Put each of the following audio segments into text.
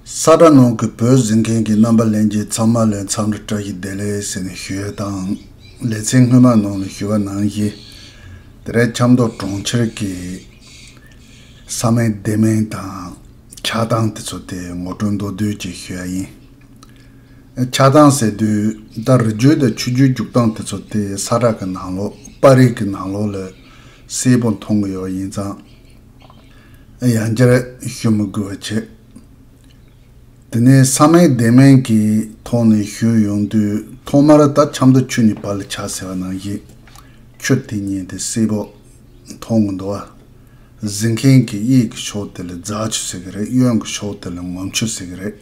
ས་དགྲ་ནང་གི་བོད་བཟི་མཁན་གྱི་རྣམ་པ་ལེན་རྗེས་ཚང་མ་ལས་མཚམས་རེ་བཀྲ་ཤིས་བདེ་ལེགས་ཟེར་ནས་ཞུ་ཡ་དང། ལེ་ཚན་སྔོན་མ་ནང་ལ་ཞུ་བ་གནང་རྗེས་དེ་རས་ཆབ་མདོ་གྲོང་ཁྱེར་གྱི་ས་མིང་སྡེ་མིང་དང་ཆགས་སྡང་དེ་ཚོ་དེ་ངོ་སྤྲོད་མདོ་བསྡུས་ཀྱིས་ཞུ་ཡ་ཡིན། ཆགས་སྡང་ཟེར་དུས་ད་རི་རྒྱུད་དང་ཆུ་རྒྱུད་རྒྱུག་སྟངས་དེ་ཚོ་དེ་ས་དགྲ་གི་ནང་ལོགས་དཔའ་རིས་ཀྱི་ནང་ལོགས་ལ་གསལ་པོ་མཐོང་གི་ཡོད་ཡིན་ཙང། ཡང་བསྐྱར་ཞུ་མི་དགོས་པ་བྱེད། དེ་ནས་ས་སྨད་བདེ་སྨད་ཀྱི་ཐོག་ནས་ཞུས་ཡོང་དུས་ཐོག་མར་ད་ཆ་མདོ་ཆུ་ནི་བར་ལ་ཆགས་ཟེར་བ་ནང་བཞིན་ཁྱོད་དེ་ཉིད་དེ་སེར་པོ་མཐོང་གི་འདུག་ཨ། གཟིགས་མཁན་གྱི་གཡས་ཀྱི་ཕྱོགས་དེ་ལ་རྫ་ཆུ་ཟེར་གྱི་རེད་གཡོན་གྱི་ཕྱོགས་དེ་ལ་ངོམ་ཆུ་ཟེར་གྱི་རེད།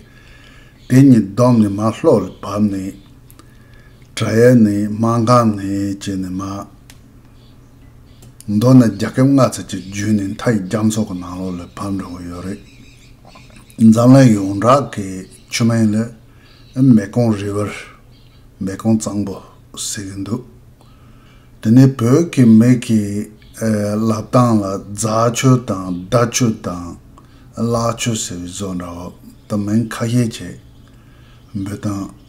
དེ་གཉིས་བསྡོམས་ནས་མ་ལྷོ་ལ་བབས་ནས། བྲག་ཡལ་ནས་མ་འགགས་ནས་བཅད་ནས་མ། མདོར་ན་རྒྱ་ཁབ་ལྔ་ཚར་གཅིག་བརྒྱུད་ནས་མཐའ་ཡི་རྒྱ་མཚོ་གི་ནང་ལོགས་ལ་བབས་འགྲོ་གི་ཡོད་རེད། འཛམ་གླིང་ཡོངས་གྲགས་ཀྱི་ཆུ་སྨན་ལ་མེ་ཀོང་རི་བར་མེ་ཀོང་གཙང་པོ་ཟེར་གྱི་འདུག་དེ་ནི་བོད་ཀྱི་མི་གི་ལབ་སྟངས་ལ་རྫ་ཆུ་དང་རྡ་ཆུ་དང་གླག་ཆུ་ཟེར་བའི་བཟོ་འདྲ་བོ་ད་མིང་ཁ་ཤས་བྱས་འབུད་དང།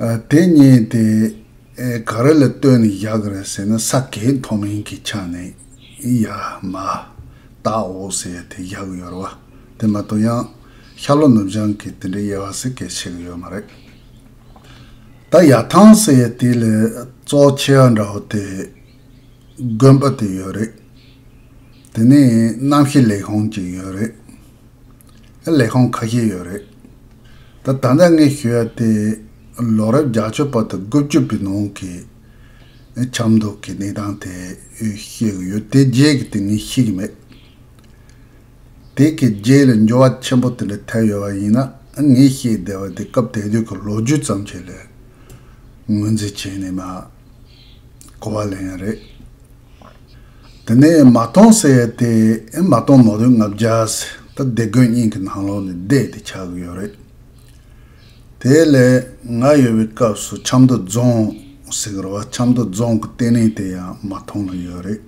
དེ་བརྙེད་དེ་ག་རེ་ལ་ལྟོས་ནས་བཞག་གི་རེད་ཟེར་ན་ས་གའི་མཐོ་དམན་གྱི་ཆ་ནས་ཡ་མ་བརྟགའོ་ཟེར་དེ་བཞག་གི་ཡོད་རེད་བ། དེ་མ་གཏོགས་ཡང་ཤར་ལྷོ་ནུབ་བྱང་གི་དེ་འདྲའི་དབྱེ་བ་ཟེར་གལ་ཆེ་གི་ཡོད་མ་རེད། ད་ཡ་ཐང་ཟེར་དེ་ལས་གཙོ་ཆེ་བ་འདྲ་བོ་དེ་དགོན་པ་དེ་ཡོད་རེད། དེ་ནས་གནམ་ཤི་ལེགས་ཧོན་གྱི་ཡོད་རེད། ལས་ཁང་ཁ་ཤས་ཡོད་རེད། ད་ད་ནས་ངས་ཞུ་ཡ་དེ་ལོ་རབས་བརྒྱ་ཆོད་པ་དང་དགུ་བཅུ་པའི་ནང་གི་ཆབ་མདོ་གི་གནས་སྟངས་དེ་ཤེས་གི་ཡོད་དེ་རྗེས་ཀྱི་དེ་ངས་ཤེས་ཀྱི་མེད། དེ་གའི་རྗེས་ལ་འགྱུར་བ་ཆེན་པོ་དེ་འདྲ་ཐེབས་ཡོད་པ་ཡིན་ན་ངས་ཤེས་བདེ་བ་དེ་སྐབས་དེ་དུས་ཀྱི་ལོ་རྒྱུས་ཙམ་ཞིག་ལས་ངོས་འཛིན་བྱས་ནས་མ་གོ་བ་ལེན་ཡ་རེད། དེ་ནས་མ་སྟོང་ཟེར་ཏེ་མ་སྟོང་མོ་རུས་ལྔ་བརྒྱ་ཟེར་ད་སྡེ་དགོན་རྙིང་གི་ནང་ལོགས་ནས་བསྡད་དེ་ཆགས་གི་ཡོད་རེད། དེ་ལས་ང་ཡོད་པའི་སྐབས་སུ་ཆབ་མདོ་རྫོང་ཟེར་གི་རེད་བ་ཆབ་མདོ་རྫོང་གི་ལྟེ་གནས་དེ་ཡང་མ་སྟོང་ན་ཡོད་རེད།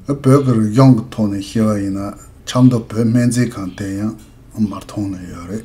བོད་ཀྱི་རིག་གཞུང་གི་ཐོག་ནས་བཤད་པ་ཡིན་ན་ཆབ་མདོ་བོད་སྨན་རྩིས་ཁང་དེ་ཡང་མ་སྟོང་ན་ཡོད་རེད།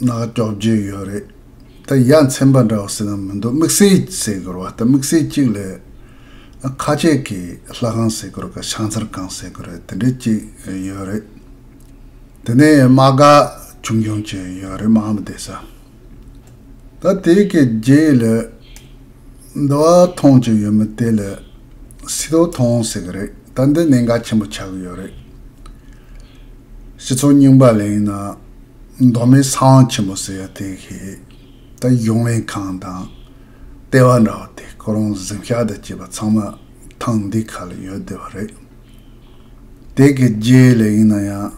ནག་སྐྱོག་རྒྱུ་ཡོད་རེད་ད་ཡ་མཚན་པ་འདྲ་བོ་ཟེར་ན་མི་འདུག་དམིགས་བསལ་ཟེར་དགོས་བ་ལྟ་དམིགས་བསལ་གཅིག་ལས་ཨ་ཁ་ཆེ་གི་ལྷ་ཁང་ཟེར་དགོས་ག་ཤང་ཚར་གང་ཟེར་དགོས་རེད་དེ་འདྲ་གཅིག་ཡོད་རེད་དེ་ནས་དམག་སྒ་ཆུང་ཆུང་གཅིག་ཡོད་རེད་དམག་མི་བསྡད་ས་ད་དེ་གི་རྗེས་ལས་འདི་བ་ཐོང་གཅིག་ཡོད་མི་དེ་ལས་སི་ཏོ་ཐོང་ཟེར་གི་རེད་ད་འདི་གནད་འགག་ཆེན་པོ་ཆགས་གི་ཡོད་རེད་སྤྱི་ཚོགས་རྙིང་པ་ལས་ཡིན་ན་མདོ་སྨད་ས་དབང་ཆེན་པོ་ཟེར་ཡ་དེ་ཤེས། ད་གཞུང་ལས་ཁང་དང། ལྟེ་བ་འདྲ་བ་དེ་ཁོ་རང་གཟིམ་ཤག་དང་བཅས་པ་ཚང་མ་ཐང་འདི་ག་ལ་ཡོད་བསྡད་པ་རེད། དེ་གའི་རྗེ་ལས་ཡིན་ན་ཡང།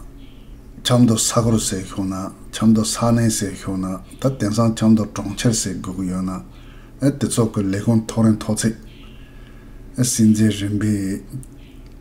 ཆབ་མདོ་ས་གོར་ཟེར་ཤོག་ན་ཆབ་མདོ་ས་གནས་ཟེར་ཤོག་ན་ད་དེང་སང་ཆབ་མདོ་གྲོང་ཁྱེར་ཟེར་དགོས་ཀྱི་ཡོད་ན། ཨེ་དེ་ཚོ་གི་ལས་ཁུངས་ཐོག་རིང་ཐོག་ཚད། ཨེ་སྲིད་འཛིན་རིམ་པའི།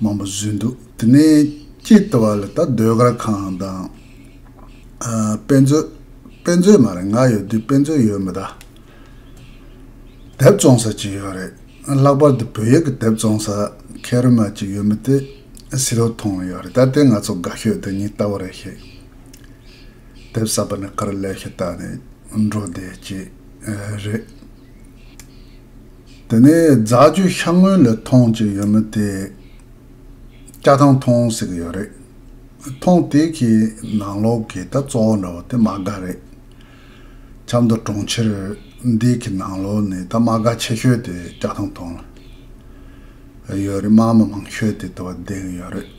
མང་པོ་བཟོས་འདུག་དེ་ནས་སྐྱེས་བསྟི་བ་ལ་ད་ཟློས་གར་ཁང་དང། དཔེ་མཛོད། དཔེ་མཛོད་མ་རེད་ང་ཡོད་དུས་དཔེ་མཛོད་ཡོད་མི་ད། དེབ་བཙོང་ས་ཅིག་ཡོད་རེད། ལྷག་པར་དུ་བོད་ཡིག་གི་དེབ་བཙོང་ས་ཁེ་རི་མ་ཅིག་ཡོད་མི་དེ་སི་རོ་ཐོང་ཡོད་རེད་ད་དེ་ང་ཚོ་དགའ་ཤོས་དེ་ཉིད་ལྟ་བུ་རེད་ཤེས། དེབ་གསར་པ་ནས་ག་རེ་ལས་ཤེས་བལྟ་ནས་འགྲོ་བསྡད་ཅིག་རེད། དེ་ནས་རྫ་ཆུ་ཤ་སྔོན་ལ་ཐོངས་ཀྱི་ཡོད་མོད་དེ། སྐྱ་ཐང་ཐོངས་ཟེར་གྱི་ཡོད་རེད། ཐོངས་དེ་གི་ནང་ལོག་གི་ད་གཙོ་བོ་འདྲ་བོ་དེ་མ་དགའ་རེད། ཆབ་མདོ་གྲོང་ཁྱེར་འདི་གི་ནང་ལོག་ནི་ད་མ་དགའ་ཆེ་ཤོས་དེ་སྐྱ་ཐང་ཐོངས་ལ་ཡོད་རེད་དམངས་མི་མང་ཤོས་དེ་དེ་བ་བསྡད་གི་ཡོད་རེད།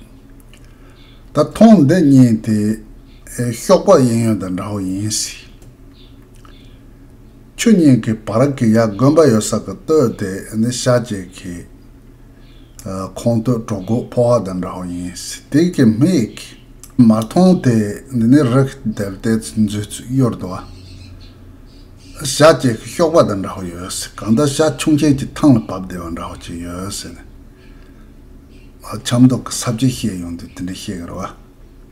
ད་ཐོངས་འདི་གཉིས་དེ་ཤོག་པག་གཡེང་ཡོད་དང་འདྲ་བོ་ཡིན་སྲིད། ཆོས་ཉིད་ཀྱི་བར་གྱི་ཡ་དགོན་པ་ཡོད་ས་གི་སྟོད་དེ་ནི་ཤར་རྒྱལ་གྱི། ཁོངས་སྟོད་གྲོ་གུག་ཕོ་བ་དང་འདྲ་བ་ཡིན། དེ་གའི་མི་ཡི་གི། མར་མཐོང་དེ་འདི་ནི་རི་གི་དེར་བལྟས་ཚེ་མཛོད་ཚིག་གཡོར་དུ་བ། ཤར་རྒྱལ་གྱི་གཤོག་པ་དང་འདྲ་བ་ཡོད། གང་ལྟར་ཤར་ཁྱུང་ཆེན་གྱི་ཐང་ལ་བབས་བདེ་བ་འདྲ་བ་ཅིག་ཡོད། ཆབ་མདོ་གི་ས་བཅད་བཤད་ཡོང་དུས་དེ་འདྲ་བཤད་གི་རེད་བ།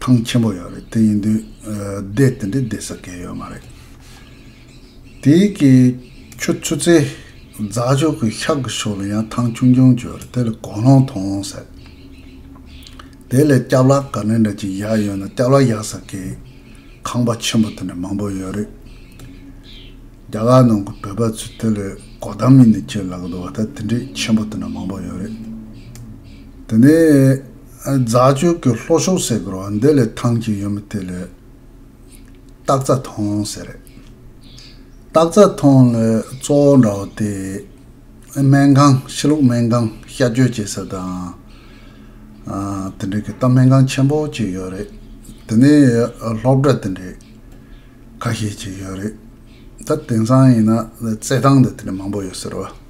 ཐང་ཆེན་པོ་ཡོད་རེད་དེ་ཡིན་དུས་སྡེ་དེ་འདྲའི་སྡེ་ཟ་མཁན་ཡོད་མ་རེད། དེ་གི་ཁྱོད་ཆུ་ཚེ་རྫ་ཕྱོགས་གི་ཤག་གི་ཕྱོགས་ལ་ཡང་ཐང་ཆུང་ཆུང་བྱོས་རེད་དེ་ལ་གོ་ལོང་ཐོང་ཟེར། དེ་ལས་སྐྱབས་ལགས་ག་ནས་འདྲ་ཅིག་ཡག་ཡོད་ན་སྐྱབས་ལགས་ཡག་ཟེར་མཁན་ཁང་པ་ཆེན་པོ་དེ་འདྲ་མང་པོ་ཡོད་རེད། རྒྱ་གར་ནང་གི་བོད་པ་ཚོས་དེ་ལས་གོ་གདམ་ཡིན་ནི་ཁྱེད་ལ་གི་འདུག་བ་ད་དེ་འདྲའི་ཆེན་པོ་དེ་འདྲ་མང་པོ་ཡོད་རེད། དེ་ནས་རྫ་ཆུ་གི་ལྷོ་ཕྱོགས་སེ་གོར་བ་འདི་ལས་ཐང་ཅིག་ཡོད་མོད་དེ་ལས་སྟག་རྩ་ཐང་ཟེར། སྟག་རྩ་ཐང་ལ་གཙོ་བོ་འདྲ་བོ་དེ་སྨན་ཁང་ཕྱི་ལུགས་སྨན་ཁང་བཤའ་བཅོས་བྱེད་ས་དང། དེ་འབྲེལ་གྱི་རྟ་སྨན་ཁང་ཆེན་པོ་གཅིག་ཡོད་རེད། དེ་ནས་སློབ་གྲྭ་དེ་འདྲས་ཁ་ཤས་ཅིག་ཡོད་རེད། ད་དེང་སང་ཡིན་ན་རྩེད་ཐང་དེ་དེ་འདྲས་མང་པོ་ཡོད་ཟེར་བ།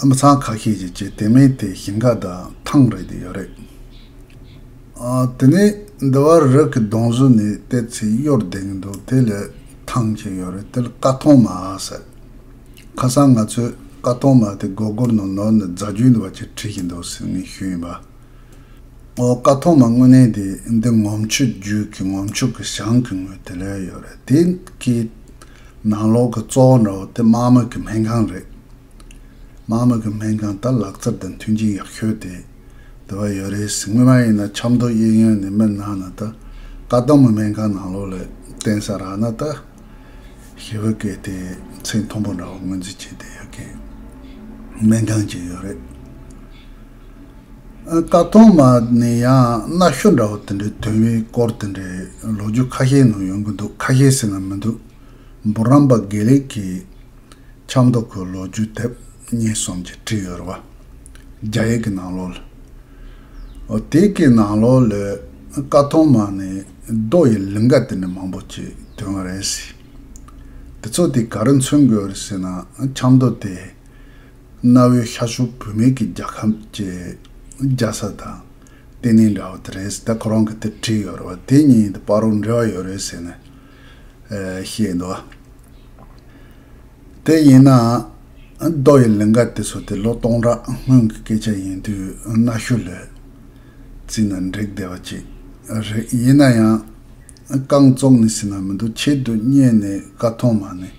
ཨ་མི་ཚང་ཁ་ཤས་ཀྱིས་ཀྱི་དེ་མིན་དེ་ཞིང་ཁ་དང་ཐང་རེད་ཡོད་རེད། དེ་ནས་འདི་བར་རི་གི་གདོང་བཟུ་ནས་བལྟས་ཚེ་གཡོར་ལྡན་གྱི་འདུག་དེ་ལས་ཐང་ཅིག་ཡོད་རེད་དེ་ལ་ཀ་ཐོང་མ་ཟེར། ཁ་སང་ང་ཚོས་ཀ་ཐོང་མ་དེ་སྒོར་སྒོར་ནང་ནོར་ནས་རྫ་རྒྱུད་འདི་བ་ཅིག་བྲིས་ཀྱི་འདུག་ཟེར་ངས་ཞུས་ཡིན་པ། ཨོ་ཀ་ཐོང་མ་དངོས་གནས་དེ་འདི་ངོམ་ཆུ་རྒྱུད་ཀྱི་ངོམ་ཆུ་གི་ཞང་གི་ངོས་དེ་ལོས་ཡོད་རེད་དེ་གའི། ནང་ལོགས་ཀྱི་གཙོ་བོ་འདྲ་བོ་དེ་དམག་མི་གི་སྨན་ཁང་རེད། དམག་མི་གི་སྨན་ཁང་ད་ལག་རྩེར་དང་མཐུན་རྐྱེན་ཡག་ཤོས་དེ་དེ་བ་ཡོད་རེད་ཟིག་སྔོན་མ་ཡིན་ན་ཆབ་མདོ་གཡས་གཡོན་ནས་མི་སྣང་ན་ད་ལྟ་དམག་མི་སྨན་ཁང་ནང་ལོགས་ལ་བསྟན་ས་རག་ན་ད་ཞི་བི་ཀའི་དེ་ཚེ་མཐོན་པོ་འདྲ་བོ་ངོས་འཛིན་བྱེད་དེ་ཡོད་མཁན་སྨན་ཁང་གཅིག་ཡོད་རེད། ད་དུང་མ་ནི་ཡང་གནའ་ཤུལ་འདྲ་བོ་དེ་འདྲའི་དོན་དབྱིངས་སྐོར་དེ་འདྲའི་ལོ་རྒྱུས་ཁ་ཤས་ནང་ཡོང་གི་འདུག་ཁ་ཤས་ཟེར་ན་མི་འདུག་འབུར་རམས་པ་དགེ་ལེགས་ཀྱིས་ཆབ་མདོ་ཁུལ་ལོ་རྒྱུས་དེབ་གཉིས་གསུམ་གྱི་བྲིས་ཡོད་རེད་བ། རྒྱ་ཡིག་གི་ནང་ལོ་ལོ། དེ་གའི་ནང་ལོ་ལོའི་ཀ་ཐོན་མ་ནི་རྡོ་ཡི་ལིང་ག་དེ་འདྲ་མང་པོ་གྱི་དོན་རེད་ཟེར། དེ་ཚོ་དེ་ག་རུ་མཚོན་དགོས་རེད་ཟེར་ན་ཆབ་མདོ་དེ། གནའ་བོའི་ཤར་ཕྱོགས་བུད་མེད་ཀྱི་རྒྱལ་ཁམས་ཀྱི་རྒྱལ་ས་དང་གཏན་ནས་འདྲ་བ་དེ་རེད་ཟེར་ད་ཁོ་རང་གིས་དེར་བྲིས་ཡོད་རེད་བ་དེ་གཉིས་དེ་དཔའ་རོགས་འབྲེལ་བ་ཡོད་རེད་ཟེར་ནས་བཤད་འདུག་དེ་ཡིན་ནའང་རྡོ་ཡི་ལིང་ག་དེ་ཚོ་དེ་ལོ་སྟོང་ཕྲག་སྔོན་གྱི་སྐད་ཆ་ཡིན་དུས་གནའ་ཤུལ་ལས་བརྩིས་ན་འགྲིག་བསྡད་པ་ཅིག་རེད་ཡིན་ན་ཡང་རྐང་བཙོག་ནི་ཟིན་ན་མི་འདུག་ཆེད་དུ་རྙེད་ནས་བཀའ་མཐོང་མ་ནི།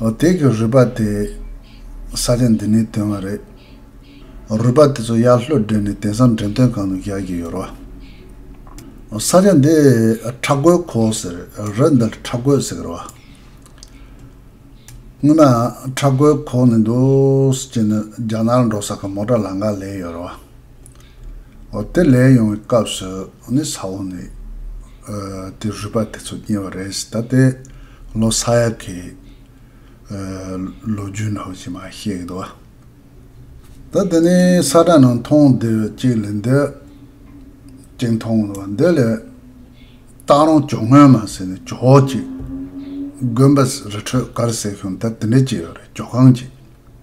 བདག་གི་རུས་པ་དེ་ས་ཆ་འདི་ནས་དོན་བ་རེད། རུས་པ་དེ་ཚོ་གཡག་ལྷོད་སྦྲེལ་ནས་དེང་སང་འདྲེན་སྟོན་གང་དུ་རྒྱག་གི་ཡོད་རོ། ས་ཆ་འདི་ཁྲ་རྒོད་གོ་ཟེར་རོ་འདི་ཁྲ་རྒོད་ཟེར་གི་རོ། སྔོན་མ་ཁྲ་རྒོད་གོ་ནས་འདུག་ཅེས་ནས་རྒྱ་ནག་ལ་འགྲོ་ས་ག་མོ་ཏྲ་ལ་འགའ་ལས་ཡོད་རོ། དེ་ལས་ཡོང་བའི་སྐབས་སུ་ནི་ས་འོག་ནས་དེ་རུས་པ་དེ་ཚོ་རྙེད་པ་རེད། ད་ལྟའི་ལོ་ས་ཡ་གི་ལོ་རྒྱུས་ནང་བཞིན་མ་ཤེས་གི་འདུག་བ། ད་དེ་ནི་ས་བཀྲ་ནང་མཐོང་བདེ་བའི་གཅིག་ལས་འདི་གཅིག་མཐོང་གི་འདུག་བ། འདི་ལས་སྟག་རོང་ཇོ་སྔོན་མ་ཟེར་ནས་ཇོ་བོ་གཅིག་དགོན་པ་རི་ཁྲོད་གར་ཟེར་ཤོང་ད་དེ་འདྲ་གཅིག་ཡོད་རེད་ཇོ་ཁང་གཅིག།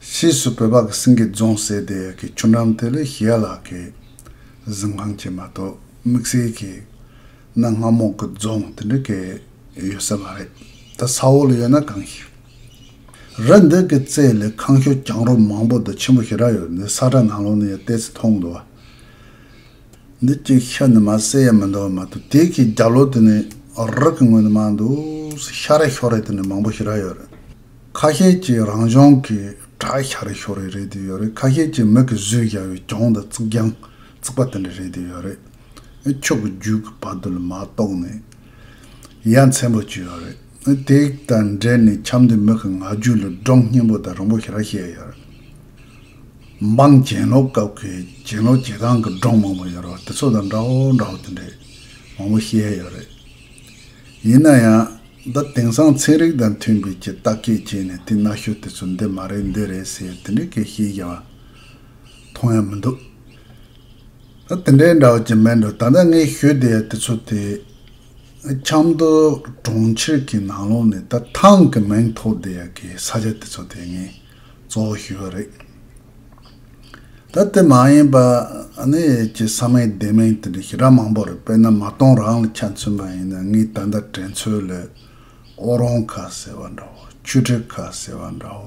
ཕྱིས་སུ་བོད་པ་གི་སེང་གེ་རྫོང་ཟེར་དེ་གི་ཆུ་འགྲམ་དེ་ལས་ཞི་ཡ་ལགས་ཀྱི་གཟིམ་ཁང་བྱས་མ་གཏོགས་དམིགས་བསལ་གྱི་གནའ་སྔ་མོ་གི་རྫོང་དེ་འདྲ་གི་ཡོད་ས་མ་རེད་ད་ས་འོག་ལ་ཡོད་ན་གང་ཞིག་རེད་འདི་གི་རྩེ་ལས་ཁང་ཤོ་གྱང་རོ་མང་པོ་དང་ཆེན་པོ་ཞེ་དྲག་ཡོད་འདི་ས་ཁྲ་ནང་ལོག་ནས་ཡང་བལྟས་ཚེ་མཐོང་འདུག་འདི་གཅིག་ཤ་ནི་མ་བསྲེས་ཡ་མི་འདུག་མ་གཏོགས་དེ་གི་རྒྱབ་ལོག་དེ་ནས་རག་གི་ངོས་ནས་མ་འདུག་ཤ་རེ་ཤོ་རེ་དེ་ནས་མང་པོ་ཞེ་དྲག་ཡོད་རེད། ཁ་ཤས་ཀྱིས་རང་ལྗོངས་ཀྱི་དྲ་ཤར་རེ་ཤོར་རེ་རེད་དེ་ཡོད་རེད་ཁ་ཤས་ཀྱིས་མིག་གི་ཟུས་བཞག་ཡོད་གྱོང་དང་རྩིག་གྱང་བརྩིགས་པ་དེ་འདྲ་རེད་དེ་ཡོད་རེད་ཨེ་ཁྱོད་ཀྱི་རྒྱུད་ཀྱི་བར་དུ་ལ་མ་གཏོགས་ནས་ཡ་མཚན་པོ་ཅི་ཡོད་རེད་ཨེ་དེ་དང་འབྲེལ་ནས་འཁྱམས་དེ་མིག་གི་ང་རྒྱུད་ལ་སྒྲོམ་སྙན་པོ་དང་རིང་པོ་ཞིག་ར་བཤད་ཡོད་རེད། འབངས་གྱེན་ལོག་སྐབས་ཀྱི་གྱེན་ལོག་བྱེད་སྟངས་ཀྱི་སྒྲོམ་མང་པོ་ཡོད་རེད་བ་དེ་ཚོ་དང་འདྲ་བོ་འདྲ་བོ་དེ་འདྲས་མང་པོ་བཤད་ཡོད་རེད། ཡིན་ན་ཡང། ད་དེང་སང་ཚན་རིག་དང་མཐུན་དགོས་ཀྱི་བརྟག་དཔྱད་བྱས་ནས་དེ་གནའ་ཤུལ་དེ་ཚོ་འདི་མ་རེད་འདི་རེད་ཟེར་དེ་འདྲའི་སྐད་ཤེས་བཞག་མཐོང་ཡ་མི་འདུག། ད་དེ་འདྲའི་འདྲ་བ་ཅི་མེད་འགྲོ་ད་ལྟ་ངའི་ཤོད་དེ་ཡ་དེ་ཚོ་དེ། ཆབ་མདོ་གྲོང་ཁྱེར་གྱི་ནང་ལོགས་ནས་ད་ཐང་གི་མིང་ཐོགས་དེ་ཡ་གི་ས་ཆ་དེ་ཚོ་དེ་ངས་གཙོ་བོ་ཞུས་པ་རེད། ད་དེ་མ་ཡིན་པ་ནི་ཁྱེད་ས་མིང་སྡེ་མིང་དེ་འདྲ་ཞེ་དྲག་མང་པོ་རེད་པས་ན་མ་གཏོང་རང་ལ་ཆ་མཚོན་པ་ཡིན་ན་ངས་ད་ལྟ་དྲན་ཚོད་ལས་ཨོ་རོང་ཁ་ཟེར་བ་འདྲ་བོ་ཆུ་དྲི་ཁ་ཟེར་བ་འདྲ་བོ་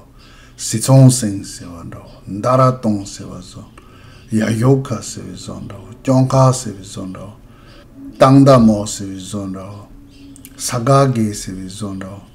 སི་ཚོང་སེང་ཟེར་བ་འདྲ་བོ་མནྡ་ར་སྟོང་ཟེར་བ་བཟོ་ཡ་ཞོ་ཁ་ཟེར་བའི་བཟོ་འདྲ་བོ་སྐྱོང་ཁ་ཟེར་བའི་བཟོ་འདྲ་བོ་སྟག་མདའ་མོ་ཟེར་བའི་བཟོ་འདྲ་བོ་ས་ག་གེ་ཟེར་བའི་བཟོ་འདྲ་བོ།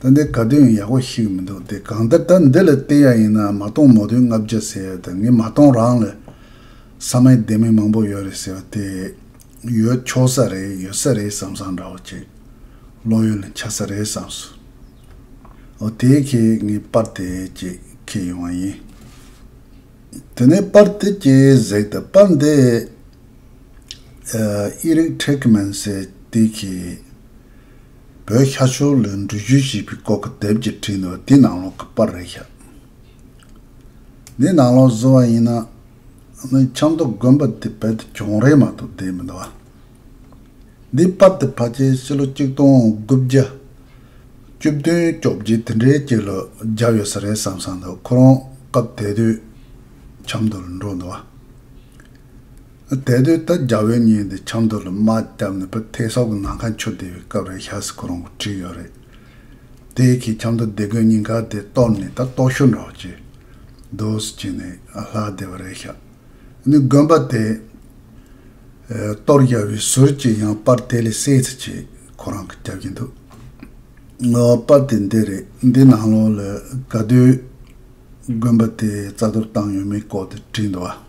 ད་འདི་ག་དོན་ཡག་པོ་ཞིག་མི་འདུག་དེ་གང་ལྟར་ད་འདི་ལ་བལྟས་ཡག་ཡིན་ནའང་མ་གཏོང་མོ་དོན་ལྔ་བརྒྱ་ཟེར་ཡག་དང་ངས་མ་གཏོང་རང་ལ་ས་མའི་སྡེ་མི་མང་པོ་ཡོད་རེད་ཟེར་བ་དེ་ཡོད་ཆོག་ས་རེད་ཡོད་ས་རེད་བསམ་བསམ་འདྲ་བོ་བྱས། བློ་ཡོད་ན་ཆགས་ས་རེད་བསམས་སོང། ཨོ་དེ་ཁྱེད་ངའི་པར་དེ་ཅེས་ཁེལ་ཡོང་བ་ཡིན། དེ་ནས་པར་དེ་ཅེས་གཟིགས་ད་པར་འདི་ཨེ་རིག་ཁྲེག་མན་སེ་དེ་ཁྱེད། བོད་ཤ་ཆོ་ལོའི་འབྲུ་རྒྱུད་ཞེས་པའི་སྐོར་གྱི་དེབ་ཀྱི་འཕྲིན་ནོར་འདི་ནང་ལོགས་ཀྱི་པར་རེད་ཤག་འདི་ནང་ལོགས་བཟོ་བ་ཡིན་ན་ནི་ཆབ་མདོ་དགོན་པ་དེ་བལ་དུ་གྱོང་རེད་མ་གཏོགས་བསྡད་མི་འདུག་འདིའི་པར་དེ་ཕ་ཁྱེད་ཕྱི་ལོ་གཅིག་སྟོང་དགུ་བརྒྱ་བཅུ་བདུན་བཅོ་བརྒྱད་དེ་འདྲའི་སྐྱེས་ལོ་བརྒྱབ་ཡོད་ས་རེད་བསམ་ས་འདུག་ཁོ་རང་སྐབས་དེ་དུས་ཆབ་མདོ་ལ་འགྲོ་འདུག་བ། དེ་དུས་ད་རྒྱ་བོད་གཉིས་འདི་ཆབ་མདོ་ལ་དམག་བརྒྱབ་ནས་པོ་ཐེ་སོག་གི་ནང་ཁ་འཆུ་བསྡད་པའི་སྐབས་རེད་ཤ་སི་ཁོ་རང་གོ་ཁྲིད་ཡོད་རེད། དེ་གིས་ཆབ་མདོ་སྡེ་དགོན་རྙིང་ག་དེ་གཏོར་ནས་ད་ལྟོགས་ཤོར་འདྲ་བ་ཅི། འདུག་སུ་བྱས་ནས་ལྷག་བསྡད་པ་རེད་ཤག་ནི་དགོན་པ་དེ། གཏོར་རྒྱག་པའི་ཟུར་གྱི་ཡང་པར་དེ་ལས་གསལ་ཚུལ་གྱིས་ཁོ་རང་གིས་རྒྱབ་ཀྱིན་འདུག་ངོ། པར་དེ་འདི་རེད་འདི་ནང་ལོགས་ལ་ག་དུས་དགོན་པ་དེ་རྩ་གཏོར་བཏང་ཡོད་མེད་སྐོར་དེ་བྲིས་འདུག་བ།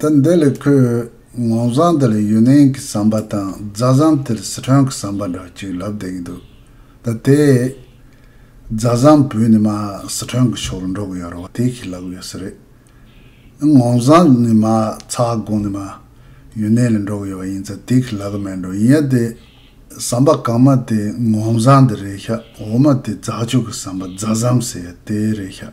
ཟླ་འདི་ལས་ཁོས་ངོ་མཚང་འདི་ལ་ཡུན་ནན་གྱི་ཟམ་པ་དང་རྫ་ཟམ་དེ་ལ་སི་ཁྲོན་གྱི་ཟམ་པ་འདྲ་བ་ཅིག་ལབ་བསྡད་ཀྱི་འདུག་ཟླ་དེས། རྫ་ཟམ་བུད་ནས་མ་སི་ཁྲོན་གྱི་ཕྱོགས་ལ་འགྲོ་གི་ཡོད་རེད་བ་དེ་ཞིག་ལབ་གི་ཡོད་ས་རེད། ངོ་མཚང་ནི་མ་ཚ་དགོངས་ནས་མ་ཡུན་ནན་ལ་འགྲོ་གི་ཡོད་བ་ཡིན་ཚ་དེ་ཞིག་ལབ་གི་མེད་འགྲོ་ཡིན་ཡ་དེ་ཟམ་པ་གང་མ་དེ་ངོ་མཚང་འདི་རེད་ཤག་འོ་མ་དེ་རྫ་ཆུ་གི་ཟམ་པ་རྫ་ཟམ་ཟེར་ཡ་དེ་རེད་ཤག།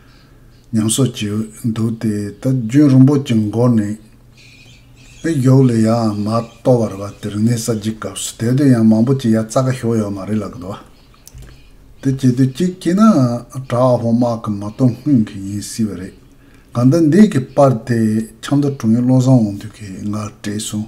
ཉམས་སོགས་བགྱིད་འདུག་སྟེ་ད་གྱོན་རིན་པོ་ཆེ་འགོག་ནས། དཔེ་གཡོག་ལས་ཡའང་མ་ལྟོ་བར་བ་དེར་ངའི་ས་བགྱིད་སྐབས་སུ་དེ་དུས་ཡང་མང་པོ་བགྱིད་ཡ་རྩ་ཁ་ཞོག་ཡོད་མ་རེད་ལགས་དོ། དེ་བྱེད་དུས་གཅིག་བགྱིད་ནའང་གྲྭ་བ་ཕོ་དམག་གི་མ་གཏོགས་སྔུན་གྱི་ཡིན་སྲིད་པ་རེད། གང་ལྟར་འདས་ཀྱི་པར་དེ་ཆབ་མདོ་དྲུང་ཡིག་བློ་བཟང་འོང་དུས་ཀྱི་ང་བྲིས་སོང།